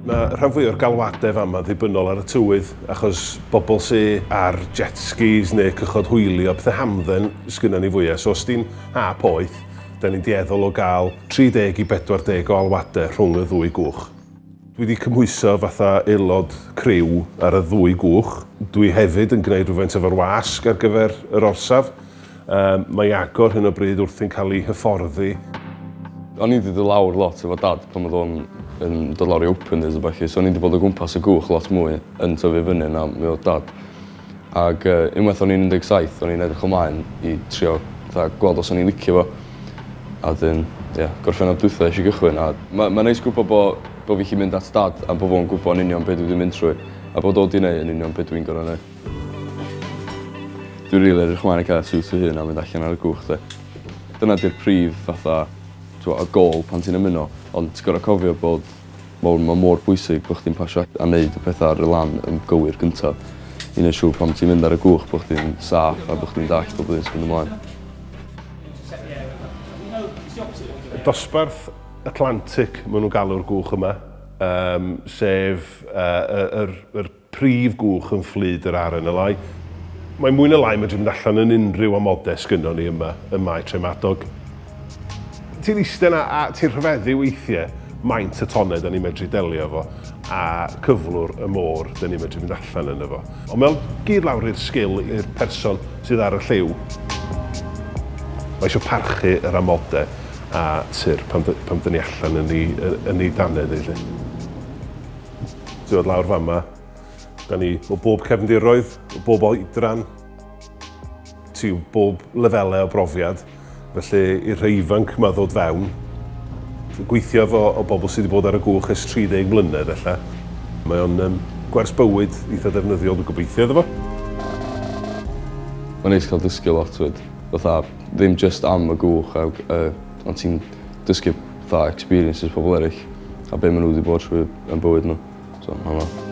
Mae rhan fwy o'r galwadau fama ddibynnol ar y tywydd, achos bobl sy ar jet skis neu cychod hwyli o pethau hamdden sgynna ni fwyaf. So os di'n ha poeth, da ni'n dueddol o gael 30 i 40 o alwadau rhwng y ddwy gwch. Dwi 'di cymhwyso fatha aelod criw ar y ddwy gwch. Dwi hefyd yn gwneud rhywfaint efo'r wasg ar gyfer yr orsaf. Yym, mae Iago ar hyn o bryd wrthi'n cael ei hyfforddi. O'n i 'di dod lawr lot efo Dad pan oedd o'n yn dod lawr i openers a ballu, so o'n i 'di bod o gwmpas y gwch lot mwy yn tyfu fyny na mi oedd Dad. Ag yy unwaith o'n i'n un deg saith o'n i'n edrych ymlaen i trio fatha gweld os o'n i'n licio fo. A 'dyn ie Gorffennaf dwitha esh i gychwyn a ma' ma'n neis gwbo bo' bo' fi 'llu mynd at dad a bo' fo'n gwbo yn union be' dwi 'di mynd trwy a bod o 'di neu' yn union be' dwi'n gor'o' neu'. Dwi rili edrych mlaen i ca'l siwt fy hun a mynd allan ar y cwch 'de. Dyna 'di'r prif fatha t'wo' y gôl pan ti'n ymuno ond ti gor'o' cofio bod Wel ma' mor bwysig bo' chdi'n pasio a neud y petha ar y lan yn gywir gynta i neu' siŵr pan ti'n mynd ar y gwch bo' chdi'n saff a bo' chdi'n dallt bob un sy'n myn' ymlaen. Y dosbarth Atlantic ma' nw'n galw'r gwch yma yym sef yy y yr yr prif gwch yn fflyd yr RNLI. Mae mwy na lai yn medru mynd allan yn unrhyw amodau sgynnon ni yma ym Mae Tref Madog. Ti'n iste 'na a ti'n rhyfeddu weithie maint y tonnau 'da ni'n medru delio efo a cyflwr y môr 'da ni'n medru mynd allan yno fo. Ond mae o'n gyd lawr i'r sgil i'r person sydd ar y lliw. Mae isio parchu yr amodau a tŷ'r pan pan 'da ni allan yn i yn i dannedd i 'lly. Dwi'n dod lawr fan yma. Da ni o bob cefndiroedd, o bob oedran, ti o bob lefelau o brofiad. Felly i'r rhai ifanc yma ddod fewn, gweithio efo o bobl sydd wedi bod ar y gwch ers 30 mlynedd ella. Mae o'n um, gwers bywyd eitha defnyddiol, dwi'n gobeithio iddo fo. Mae'n neis cael dysgu lot fyd. Fatha, ddim just am y gwch a y Ond ti'n dysgu fatha experiences pobl eryll a be' ma' n'w 'di bod trwy yn bywyd n'w. So ma' hwnna.